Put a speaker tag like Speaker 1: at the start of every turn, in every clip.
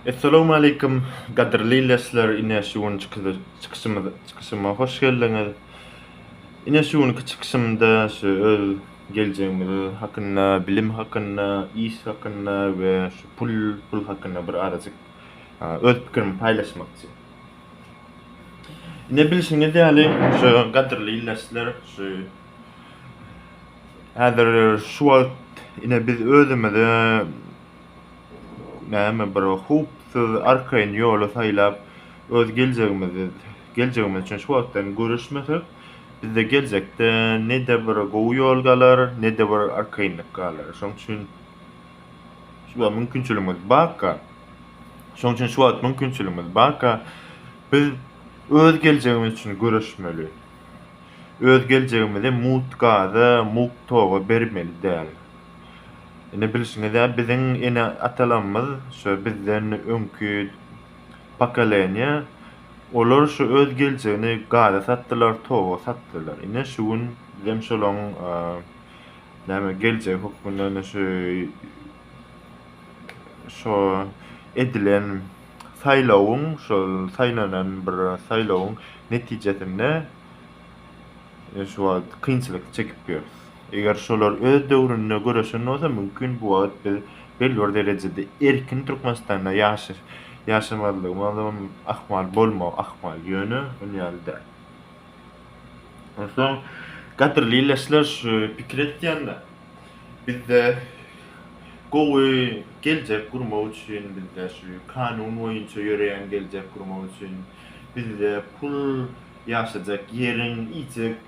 Speaker 1: Essalawmaleýkum gadyrly lesler ine şu günki çykyşymyz çykyşyma hoş geldiňiz ine şu günki çykyşymda şu öz geljegimiz hakynda bilim hakynda iş hakynda we şu pul pul hakynda bir azajyk öz pikirimi paýlaşmakçy ine bilşiňiz ýaly şu gadyrly lesler şu häzir şu wagt ine biz özümize näme bir howpsuz arkaýyn ýoly saýlap öz geljegimizi geljegimiz üçin şu wagtdan göreşmesek bizde geljekde ne-de bir gowy ýol galar ne-de bir arkaýynlyk galar şoň üçin şu wagt mümkinçiligimiz barka şoň üçin şu wagt mümkinçiligimiz barka biz öz geljegimiz üçin göreşmeli öz geljegimizi mugt gaza mugt toga bermeli däl. Indi bilşiňiz ýaly biziň ene atalarymyz şu bizden öňki pokoleniýa olar şu öz geljegini gaza satdylar toga satdylar ine şu gün bizem şolaň näme geljegi hökmünde ine şu şo edilen saýlawyň şol saýlanan bir saýlawyň netijesinde şu wagt kynçylyk çekip ýörüs. Eger şolar öz döwründe göreşen bolsa, mümkin, bu wagt biz belli bir derejede erkin Türkmenistanda ýaşaş, ýaşamazlygymyzam ahmal, bolmag ahmal, ýöne ol ýaly däl. Onsoň, gadyrly ildeşler, şu pikir etýänler, bizde gowy geljek gurmak üçin, bizde şu kanun boýunça ýöreýän geljek gurmak üçin, bizde pul, ýaşajak ýeriň, iýjek,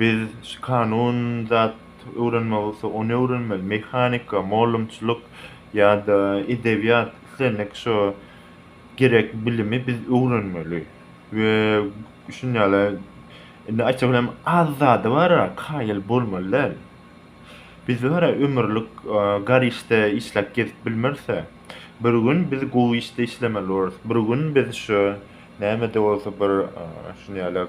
Speaker 1: Biz şu kanun zat öwrenmek isle ony öwrenmeli, mehanika, mollumçylyk ýa-da edebiýat islendik şo gerek bilimi biz öwrenmeli we şun ýaly indi aýtsak olam az zada bara kaýyl bolmaly däl. Biz bara ömürlik gar işde işläp gezip bilmeris-ä. Bir gün biz gowy işde işlemeli bolarys. Bir gün biz şu nämede bolsa bir şun ýaly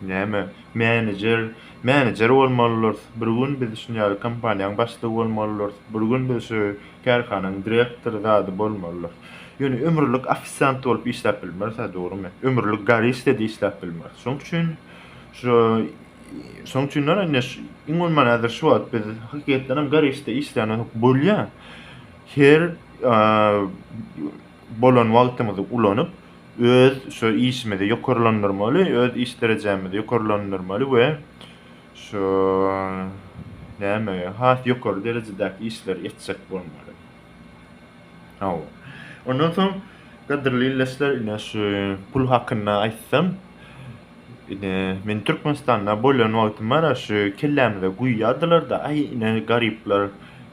Speaker 1: Näme, menejer, menejer bolmalydyrys, bir gün biz şun ýaly kompaniýaň başlygy bolmalydyrys, bir gün biz şu kärhananyň direktory zady bolmalydyrys. Ýöne ömürlik ofisiant bolup işläp bilmeris-ä, dogrumy? Ömürlik garişde-de işläp bilmeris. Şoň üçin şu, şoň üçinem indi şu, iň bolmanda häzir şu wagt biz hakykatdanam garişde işlän bolsak bolýar. Her, a, bolan wagtymyzy ulanyp, öz şu işimizi ýokarlandyrmaly, öz iş derejämizi ýokarlandyrmaly we şu näme has ýokary derejedäki işleri etjek bolmaly. Hawa. Ondan soň gadyrly ildeşler ine şu pul hakynda aýtsam, ine men Türkmenistanda bolan wagtymara şu kellämize guýýardylar-da, aý ine garyplar,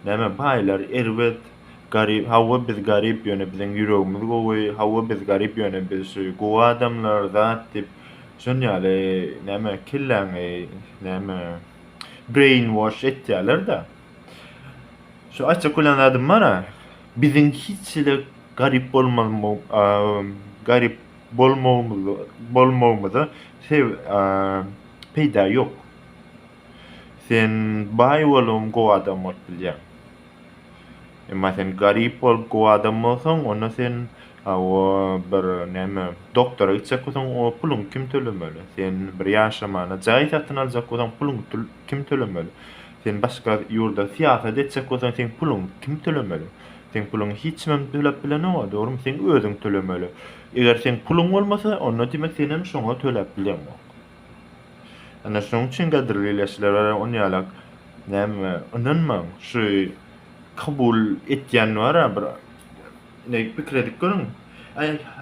Speaker 1: näme baýlar erbet, Garyp hawa biz garyp ýöne biziň ýüregimiz gowy hawa biz garyp ýöne biz şu gowy adamlar zat diýip şon ýaly näme kelläňi näme brain wash etýälerdä şu aýtjak bolýan zadym bara biziň hiç hili garyp garyp bolmagymyza peýda ýok sen baý boluň gowy adam bolup bilýäň. Emma sen garyp bolup gowy adam bolsaň, onda sen o bir näme, doktora gitjek bolsaň, o puluňy kim tölemeli? Sen bir ýaşamaga jaý satyn aljak bolsaň, puluňy kim tölemeli? Sen başga ýurda syýasat etjek bolsaň, seň puluňy kim tölemeli? Seň puluňy hiç kimem töläp bilenok-a, dogrumy? Seň özüň tölemeli. Eger seň puluň bolmasa, onda diýmek sen hem şoňa töläp bileňok. Ana şonuň üçin gadyrly ileçilere on ýalak näme ynanmaň şu kabul etýän bara bir ine pikir edip görüň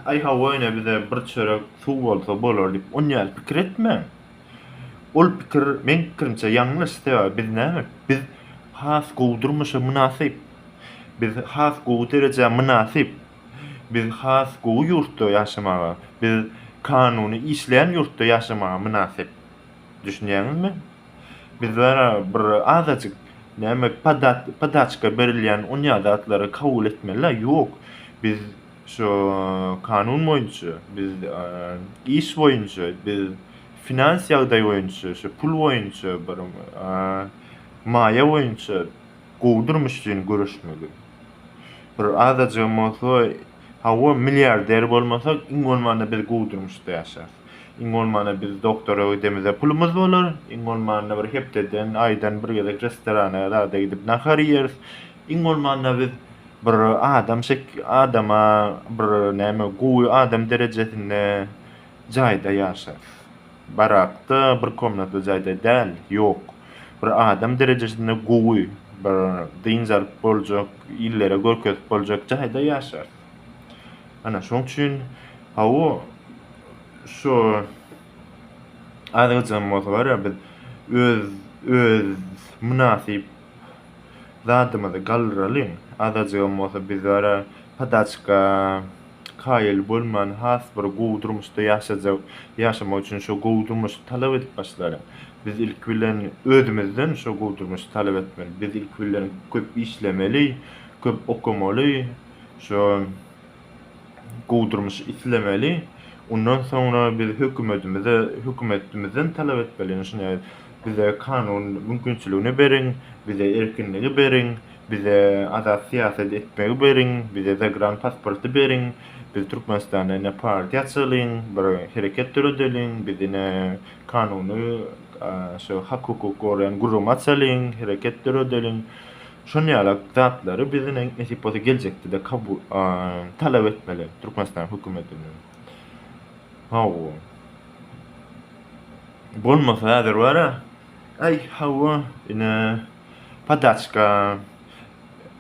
Speaker 1: aý hawa ine bize bir çörek suw bolsa bolar diýip on ýaly pikir etmäň ol pikir meň pikirimçe ýalňyş sebäbi biz näme biz has gowy durmuşa mynasyp biz has gowy derejä mynasyp Biz has gowy ýurtda ýaşamaga, biz kanuny işleýän ýurtda ýaşamaga mynasyp. Düşünýäňizmi? Bizlere bir azajyk näme podaçka berilýän onýa zatlary kabul etmeli-dä? Ýok. Biz şu kanun boýunça, biz iş boýunça, biz finans ýagdaý boýunça, şu pul boýunça, bir maýa boýunça gowy durmuş üçin göreşmeli. Bir azajygam bolsa, hawa, milliarder bolmasak, iň bolmanda biz gowy durmuşda ýaşarys. Iň bolmanda biz doktora gidemize pulumyz bolar, iň bolmanda bir hepdeden, aýdan bir gezek restorana zada gidip nahar iýeris, iň bolmanda biz bir adam şek, adama bir näme, gowy adam derejesinde jaýda ýaşarys. Barakda, bir komnatly jaýda däl, ýok. Bir adam derejesinde gowy, bir dynç alyp boljak, illere görkezip boljak jaýda ýaşarys. Ana, şoň üçin, hawa, şu azajygam bolsa, bar-a, biz öz, öz mynasyp Zadymyzy galdyralyň, azajygam bolsa biz bara padaçka kaýyl bolman has bir gowy durmuşda ýaşajak, ýaşamak üçin şo gowy durmuşy talap edip başlalyň. Biz ilki bilen özümizden şo gowy durmuşy talap etmeli. Biz ilki bilen köp işlemeli, köp okamaly, şo. gowdurmyş islemeli. Ondan soňra biz hökümetimize, hökümetimizden talap etmeli, ýöne şuny bize kanun mümkinçiligini beriň, bize erkinligi beriň, bize azat syýasat etmegi beriň, bize zagran pasporty beriň, biz Türkmenistanda ine partiýa açalyň, bir hereket döredeliň, biz ine kanuny, şu hak-hukuk goraýan gürrüňi açalyň, hereket döredeliň. Şon ýalak zatlary biziniň nesip bolsa geljekdede kabul talap etmeli Türkmenistan hökümetinden. Hawa. Bolmasa häzir bara. Aý hawa ine padaçka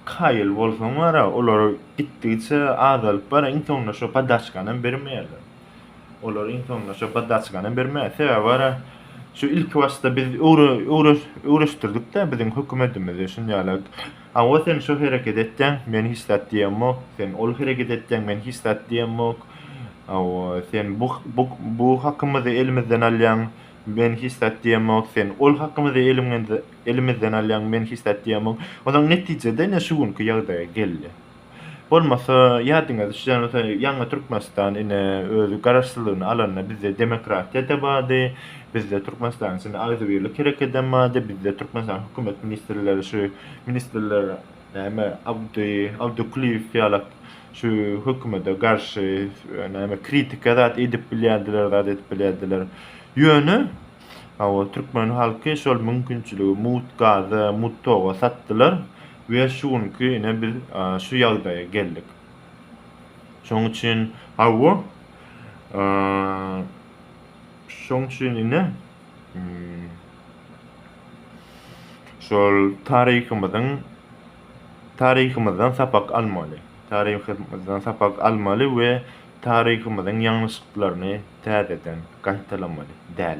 Speaker 1: kaýyl bolsaň bara olar gitdigiçe azalyp bara iň soňunda şo padaçkanam bermeýärler. Olar iň soňunda şo poddaçkany berme. Sebäbi bar-a, şu ilki başda biz öwreşdirdik-de biziň hökümedimizi şunýalak. Hawa, sen şo hereket etýäň, men hiç zat diýemok, sen ol hereket etýäň, men hiç zat diýemok. Hawa, sen bu hakymyzy elimizden alýaň, men hiç zat diýemok, sen ol hakymyzy elimizden alýaň, men hiç zat diýemok. Onsoň netije-de ine şu günki ýagdaýa geldi. Bolmasa ýadyňa düşýän bolsa ýaňy Türkmenistan ine öz garaşsyzlygyny alanda bizde demokratiýada bardy, bizde Türkmenistanyň içinde agzybirlik herekedem bardy, bizde Türkmenistanyň hökümet ministrleri şu ministrler näme Abdy Abdyklyýew ýalak şu hökümede garşy näme kritika zat edip bilýärdiler zat edip bilýärdiler. Ýöne hawa türkmen halky şol mümkinçiligi mut gaza mut toga satdylar. We şu günki ine biz şu ýagdaýa geldik. Şoň üçin hawa şoň üçin ine şol taryhymyzyň taryhymyzdan sapak almaly. Taryhymyzdan sapak almaly we taryhymyzyň ýalňyşlyklaryny täzeden gaýtalamaly däl.